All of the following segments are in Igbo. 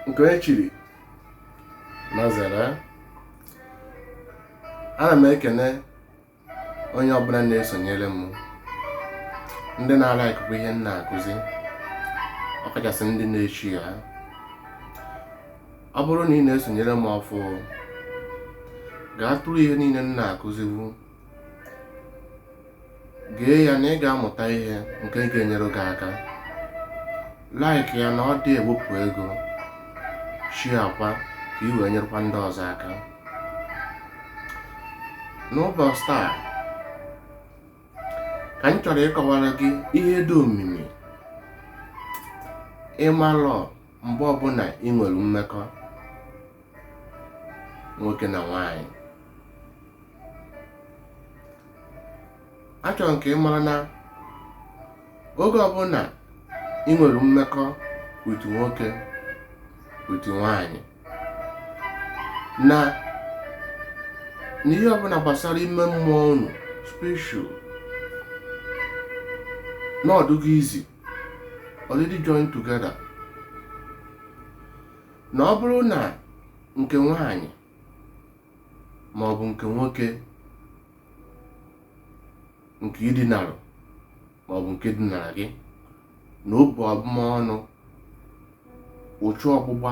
nke onye chiri nya zere ana m ekene onye ọbụla na-esonyere m ndị na-alike ihe m na-akụzi ọkachasị ndị na-eshare ya ọ bụrụ na ị na-esonyere m ọfụụ gaa tụrụ ihe niile m na-akụzibu gee ya na ị ga-amụta ihe nke ga-enyere gị aka like ya na ọ dị ewepụ ego share akwa ka ị wee nyerekwa ndị ọzọ aka n'ụbọchị taa ka m chọrọ ịkọwara gị ihe dị omimi ịmalụ mgbe ọbụla ị nwere mmekọ nwoke na nwanyị achọrọ m ka ị mara na oge ọbụla ị nwere mmekọ with nwoke with nwanyị na n'ihe ọbụla gbasara ime mmụọ unu spiritual na ọ dụgo is already join together na ọ bụrụ na nke nwanyị ma ọ bụ nke nwoke nke i dinarụ ma ọ bụ nke dinara gị na o bu abụmọnụ uchu ọgbụgba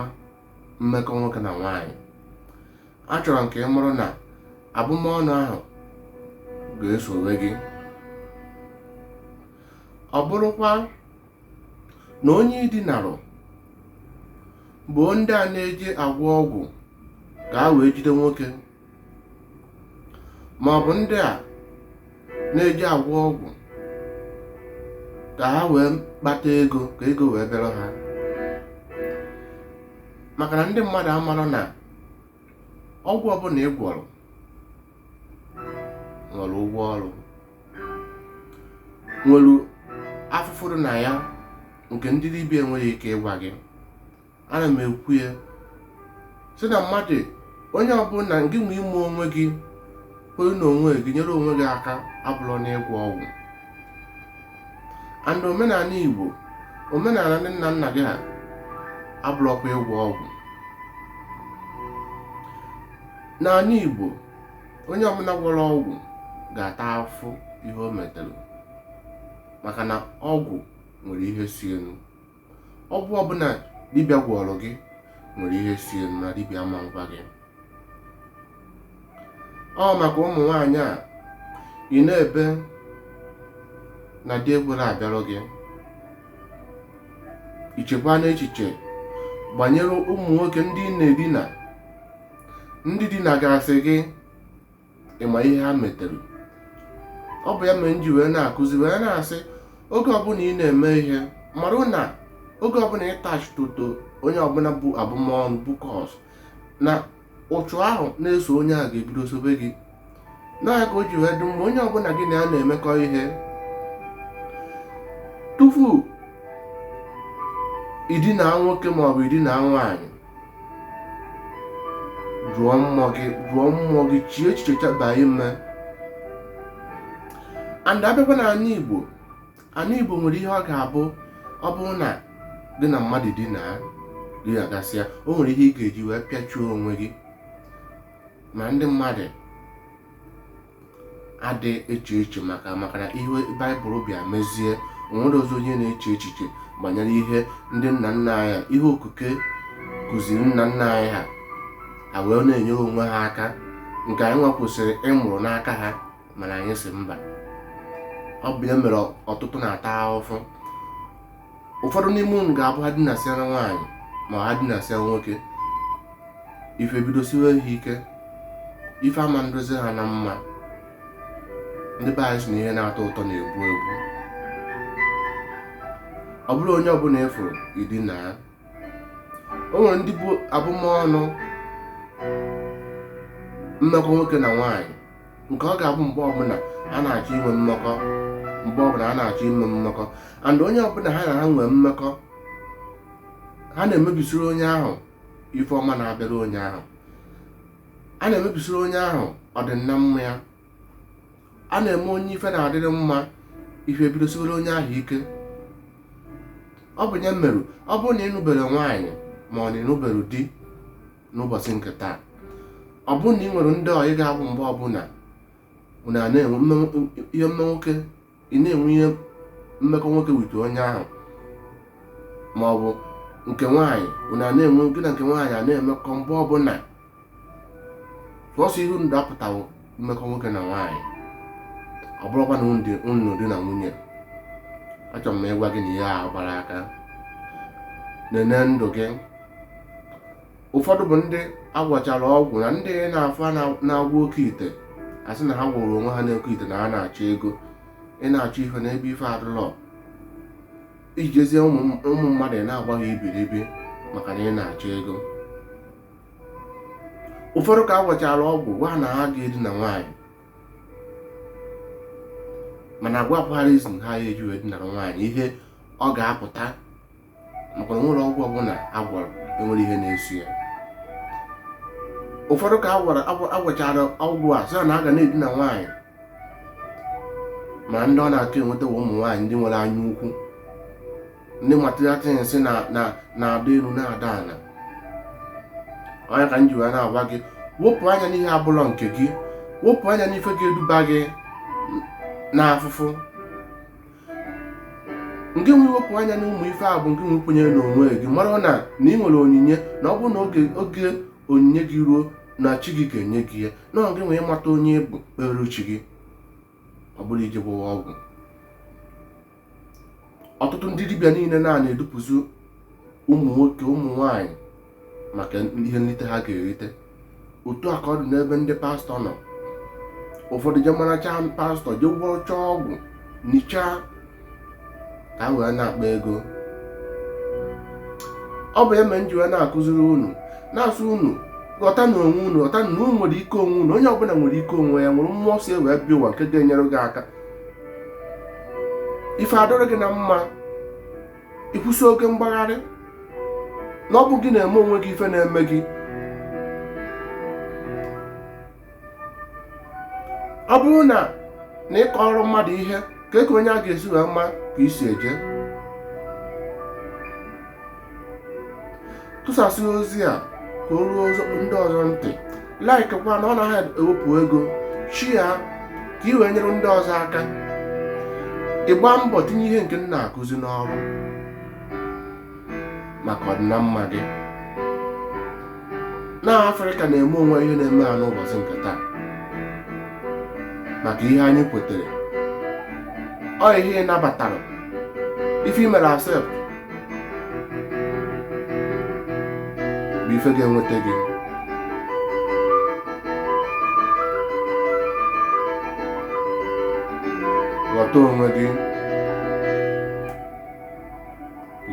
mmekọ nwoke na nwanyị achọrọ m ka ị mara na abụmọnụ ahụ ga-esowe gị ọ bụrụkwa na onye i dinarụ bụ ndị a na-eji agwọ ọgwụ ka ha wee jide nwoke ma ọ bụ ndị a na-eji agwọ ọgwụ ka ha wee kpata ego ka ego wee bịara ha maka na ndị mmadụ amarọ na ọgwụ ọbụla ị gwọrọ nwere ụgwọ ọrụ nwere afụfụ dị na ya nke ndị dibịa enweghị ike ịgwa gị ana m ekwu ya sị na mmadụ onye ọbụla gị nwe ime onwe gị kwere na onwe gị nyere onwe gị aka abụrọ na ịgwọ ọgwụ and omenala igbo omenala ndị nna nna gị ha abụrọkwa ịgwọ ọgwụ n'ala Igbo onye ọbụla gwọrọ ọgwụ ga-ata afụfụ ihe o metere maka na ọgwụ nwere ihe si elu ọgwụ ọbụla dibịa gwọrọ gị nwere ihe si elu na dibịa ama agwa gị ọ maka ụmụ nwaanyị a ị na-ebe na di ekwerọ abịarụ gị ichekwa n'echiche banyere ụmụ nwoke ndị ị na-edina ndị dinagasị gị ị ma ihe ha metere ọ bụ ya mere m ji wee na-akụzi wee na-asị oge ọbụla ị na-eme ihe marụ na oge ọbụla ị attach to to onye ọbụla bu abụmọnụ bu curse na ụchụ ahụ na-eso onye a ga-ebido sobe gị na ya ka o ji wee dị mma onye ọbụla gị na ya na-emekọ ihe tupu i dina nwoke maọbụ i dina nwaanyị jụọ mmụọ gị jụọ mmụọ gị chie echiche chaba ime and abịakwa n'ana Igbo ana igbo nwere ihe ọ ga-abụ ọ bụrụ na gị na mmadụ dinaa gị agasịa o nwere ihe ị ga-eji wee pịachuo onwe gị ma ndị mmadụ adị eche echiche maka maka na ihe baịbụl bịa mezie o nwerọzi onye na-eche echiche banyere ihe ndị nna nna anyị ha ihe okike kụziri nna nna anyị ha ha wee na-enyere onwe ha aka nke anyị nwa kwesịrị ịmụrụ n'aka ha mana anyị sị mba ọ bụ ya mere ọtụtụ na-ata ahụhụ ụfọdụ n'ime unu ga-abụ ha dinasịa na nwaanyị ma ha dinasịa nwoke ife ebidosiwe ha ike ife ama na-adịzi ha na mma ndị be anyị sị na ihe na-atọ ụtọ na-egbu egbu ọ bụrọ onye ọbụla ị fụrụ i dinaa ya o nwere ndị bu abụmọnụ mmekọ nwoke na nwaanyị nke ọ ga-abụ mgbe ọbụla ha na-achọ inwe mmekọ and onye ọbụla ha na ha nwee mmekọ ha na-emebisiri onye ahụ ife ọma na-abịara onye ahụ a na-emebisiri onye ahụ ọdịnamma ya ha na-eme onye ife na-adịrị mma ife ebidosiwere onye ahụ ike ọ bụ ya mere ọ bụrụ na ị nụberọ nwaanyị ma ọ na ị nụberọ di n'ụbọchị nke taa ọ bụrụ na ị nwere ndị ọyị ga-abụ mgbe ọbụla unu na-enwe mmekọ ị na-enwe mmekọ nwoke with onye ahụ ma ọ bụ nke nwaanyị unu na-enwe gị na nke nwaanyị a na-emekọ mgbe ọbụla sọsọ ihe unu dapụtawo mmekọ nwoke na nwaanyị ọ bụrọkwa na unu di na nwunye achọrọ m ịgwa gị na ihe a agbarọ aka nene ndụ gị ụfọdụ bụ ndị a gwọchara ọgwụ na ndị ị na-afụ na-agwọ oke ite asị na ha gwọrọ onwe ha n'oke ite na ha na-achọ ego ị na-achọ ife n'ebe ife adịlọ iji jezie ụmụ mmadụ na-agba ha ibiribi maka na ị na-achọ ego ụfọdụ ka agwọchara ọgwụ gwa na ha ga-edina nwaanyị mana agwapụghazi ha ya eji wee dinara nwaanyị ihe ọ ga-apụta maka na nwere ọgwụ ọbụla agwọrọ enwere ihe na-eso ya ụfọdụ ka agwọchara ọgwụ a sị na a ga na-edina nwaanyị ma ndị ọ na-aka enweta ụmụ nwaanyị ndị nwere anya ukwu ndị material things na-ada elu na-ada ala ọ ya ka m ji wee na-agwa gị wepụ anya n'ihe abụlọ nke gị wepụ anya n'ife ga-eduba gị n'afụfụ nke nwe wepụ anya na ụmụ ife a bụ ngị wee kwenyere n'onwe gị mara na na ị nwere onyinye na ọ bụrụ na oge onyinye gị ruo na chi gị ga-enye gị ya na ọ ngị wee mata onye ị bụ kpeere chi gị ọ bụrọ ije gwọwa ọgwụ ọtụtụ ndị dibịa niile na-edupụzi ụmụ nwoke ụmụ nwanyị maka ihe nlite ha ga-erite otu a ka ọ dị n'ebe ndị pastọ nọ ụfọdụ je maracha pastọ je gwọchaa ọgwụ nichaa ka ha wee na-akpa ego ọ bụ ya mere m ji wee na-akụziri unu na-asị unu ghọta na onwe unu ghọta na unu nwere ike onwe unu onye ọbụla nwere ike onwe ya nwere mmụọ si wee bịa ụwa nke ga-enyere gị aka ife adịrị gị na mma ị kwụsị oke mgbagharị na ọ bụ gị na-eme onwe gị ife na-eme gị ọ bụrụ na na ị kọrọ mmadụ ihe kee ka onye a ga-esi wee ma ka i si eje tụsasị ozi a ka o ruo ndị ọzọ ntị like kwa na ọ naghị ewepụ ego share ka ị wee nyere ndị ọzọ aka ị gbaa mbọ tinye ihe nke m na-akụzi n'ọrụ maka ọdịnamma gị na afrịka na-eme onwe ihe na-eme ha n'ụbọchị nke taa maka ihe anyị kwetere ọ ihe ị nabatara ife i mere accept bụ ife ga-enweta gị ghọta onwe gị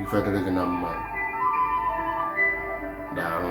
ife dịrị gị na mma daalụ